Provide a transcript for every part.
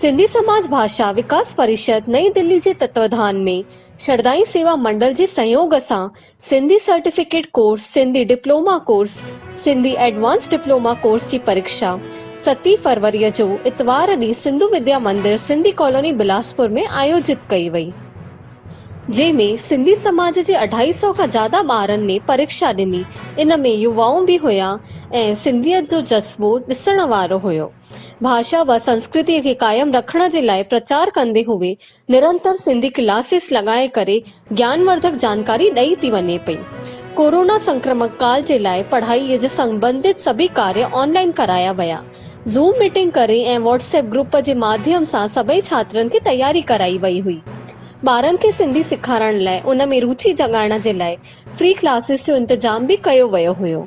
سنڌي سماج ڀاشا وڪاس پريشد نئين دلي جي تتواڌان ۾ شردائي سيوا منڊل جي سهيوگ سان Sindhi certificate course, Sindhi diploma course, Sindhi advance diploma course جي پريکشا ستين فروريء جو اتوار ڏينهن سنڌو وديا مندر سنڌي ڪالوني بلاسپور ۾ آيوجت ڪئي وئي جنهن ۾ سنڌي سماج جي اڍائي سئو کان زياده ٻارن ني پريکشا ڏني ان ۾ يوائون به هيا ۽ سنڌيت جو جذبو ڏسڻ وارو هيو. ڀاشا و سنسڪرتيء کي قائم رکڻ جي لاء پرچار ڪندي هوء نرنتر سنڌي ڪلاسز لڳائي ڪري گيانورڌڪ جانڪاري ڏئي ٿي وڃي پئي. ڪورونا سنڪرمڪ ڪال جي لاء پڙهائيء جي سنٻنڌت سڀئي ڪاري آن لائين ڪرايا ويا. زوم ميٽنگ ڪري ۽ واٽس ايپ گروپ جي ماڌيم سان سڀئي ڇاترن کي تياري ڪرائي وئي هئي. ٻارن کي سنڌي سيکارڻ لاء ان ۾ روچي جڳائڻ جي لاء فري ڪلاسز جو انتظام به ڪيو ويو هيو.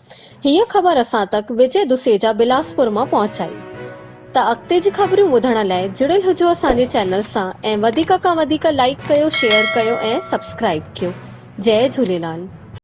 هيء خبر اسان تڪ وجي دسيجا بلاسپور مان پهچائي. ته اڳتي جي خبريون ٻڌڻ لاء جڙيل هجو اسان جي چينل سان ۽ وڌيڪ کان وڌيڪ لائيڪ ڪيو شيئر ڪيو ۽ سبسڪرائيب ڪيو جئي جهوليلال.